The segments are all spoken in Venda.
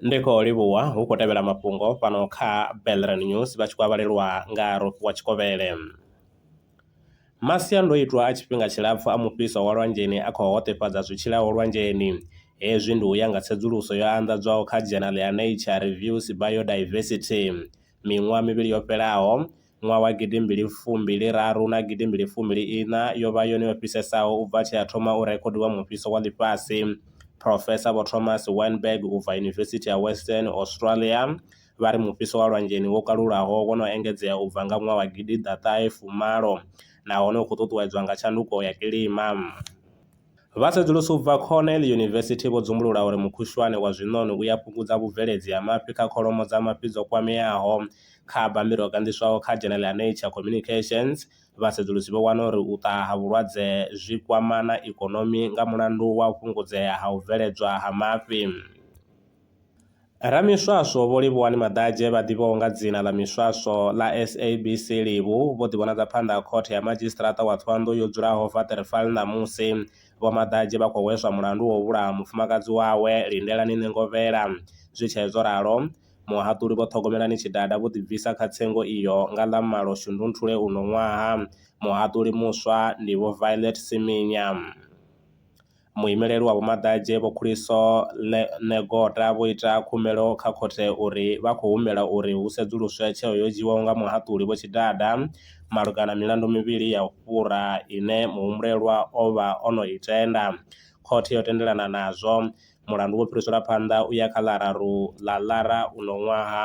ndi khou livhuwa hu khou tevhela mafhungo fhano kha belran news vha tshi khou avhalelwa nga rofhiwa tshikovhele masiandoitwa a tshifhinga tshilapfu a mufhiso wa lwanzheni a khou hoṱefhadza zwi tshilaho lwanzheni hezwi ndi u ya nga tsedzuluso yo anḓadzwaho kha dzhenali ya nature reviews biodiversity miṅwaha mivhili yo fhelaho ṅwaha wa gidi mbili fumi raru na gidi mbili fumi ina yo vha yone yo fhisesaho u bva tshe ha thoma u rekhodiwa mufhiso wa ḽifhasi. Phrofesa Vho Thomas Weinberg u bva Yunivesithi ya Western Australia vha ri mufhiso wa lwanzheni wo kalulaho wo no engedzea u bva nga ṅwaha wa gidi ḓa ṱahe fumalo nahone u khou ṱuṱuwedzwa nga tshanduko ya kilima. Vhasedzulusi u bva Cornell University vho dzumbulula uri mukhushwane wa zwiṋoni u ya fhungudza vhubveledzi ha mafhi kha kholomo dza mafhi dzo kwameaho. Kha bammbiri ho ganḓiswaho kha dzhenele ya Nature Communications, vhasedzulusi vho wana uri u ṱaha ha vhulwadze zwi kwama na ikonomi nga mulandu wa u fhungudzea ha u bveledzwa ha mafhi. Ramiswaswo Vho Livhuwani Maḓadzhe vha ḓivhiwaho nga dzina ḽa Miswaswo ḽa SABC Livhu vho ḓivhonadza phanḓa ha Khothe ya Madzhisiṱaraṱa wa Thohoyandou yo dzulaho Waterval ṋamusi. Vho Maḓadzhe vha khou hweswa mulandu wa u vhulaha mufumakadzi wawe, Lindelani Nengovhela. Zwi tshee zwo ralo, muhaṱuli Vho Ṱhogomelani Tshidada vho ḓibvisa kha tsengo iyo nga ḽa malo Shundunthule uno ṅwaha. Muhaṱuli muswa ndi Vho Violet Siminya. Muimeleli wa Vho-Maḓaje Vho Khuliso Negoda vho ita khumbelo kha khothe uri vha khou humbela uri hu sedzuluswe tsheo yo dzhiiwaho nga muhaṱuli Vho Tshidada malugana na milandu mivhili ya u fhura ine muhumbulelwa o vha o no i tenda. Khothe yo tendelana nazwo, mulandu wo fhiriselwa phanḓa u ya kha ḽa raru ḽa Lara uno ṅwaha.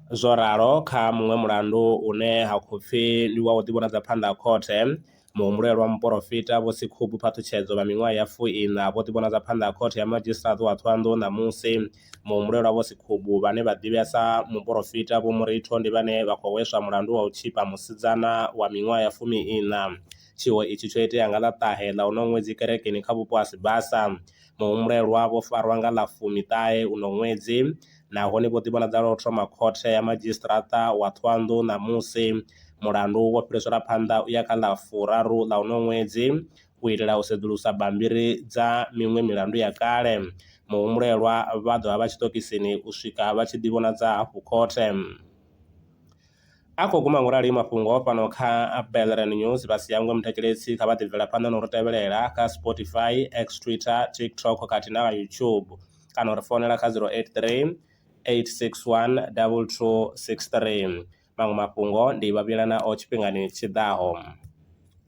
Zwo ralo kha muṅwe mulandu une ha khou pfi ndi wa u ḓivhonadza phanḓa ha khothe, muhumbulelwa muporofita Vho Sekhubu Phaṱhutshedzo vha miṅwaha ya fu-iṋa vho ḓivhonadza phanḓa ha Khothe ya Madzhisiṱiraṱa wa Thohoyandou ṋamusi. Muhumbulelwa Vho Sekhubu, vhane vha ḓivhea sa muporofita Vho Muritho ndi vhane vha khou hweswa mulandu wa u tzhipa musidzana wa miṅwaha ya fumi-iṋa. Tshiwo itshi tsho itea nga ḽa ṱahe ḽa uno ṅwedzi kerekeni kha vhupo ha Sibasa. Muhumbulelwa vho farwa nga ḽa fumi-ṱahe uno ṅwedzi nahone vho ḓivhonadza lwa u thoma khothe ya madzhisiṱaraṱa wa Thohoyandou ṋamusi, mulandu wo fhiriselwa phanḓa u ya kha ḽa furaru ḽa unoyu ṅwedzi u itela u sedzulusa bammbiri dza miṅwe milandu ya kale. Muhumbulelwa vha ḓo vha vha tshiṱokisini u swika vha tshi ḓivhonadza hafhu khothe. A khou guma ngo rali mafhungo fhano kha Belren News. Vha si hangwe muthetshelesi kha vha ḓi bvela phanḓa no ri tevhelela kha Spotify, X, Twitter, TikTok khathihi na kha YouTube kana u ri founela kha 083 861 2263. Maṅwe mafhungo ndi vha vhuyelana o tshifhingani tshi ḓaho.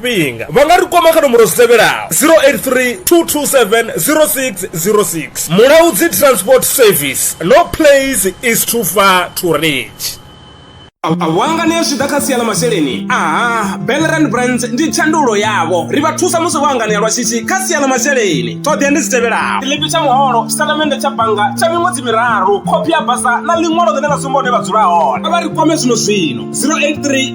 fhinga vha nga ri kwama kha nomboro dzi tevhelaho 083 227 0606 mulaudzi transport service no place is too far to reach awanga ne zwi ḓa kha sia ḽa masheleni aha belran brands ndi tshandulo yavho ri vha thusa musi vho anganea lwa shishi kha sia ḽa masheleni ṱhoḓea ndi dzi tevhelaho tshiḽipi tsha muholo tshitatamennde tsha bannga tsha miṅwedzi miraru khophi ya basa na ḽiṅwalo ḽine ḽa sumba hune vha dzula hone a vha ri kwame zwino zwino 083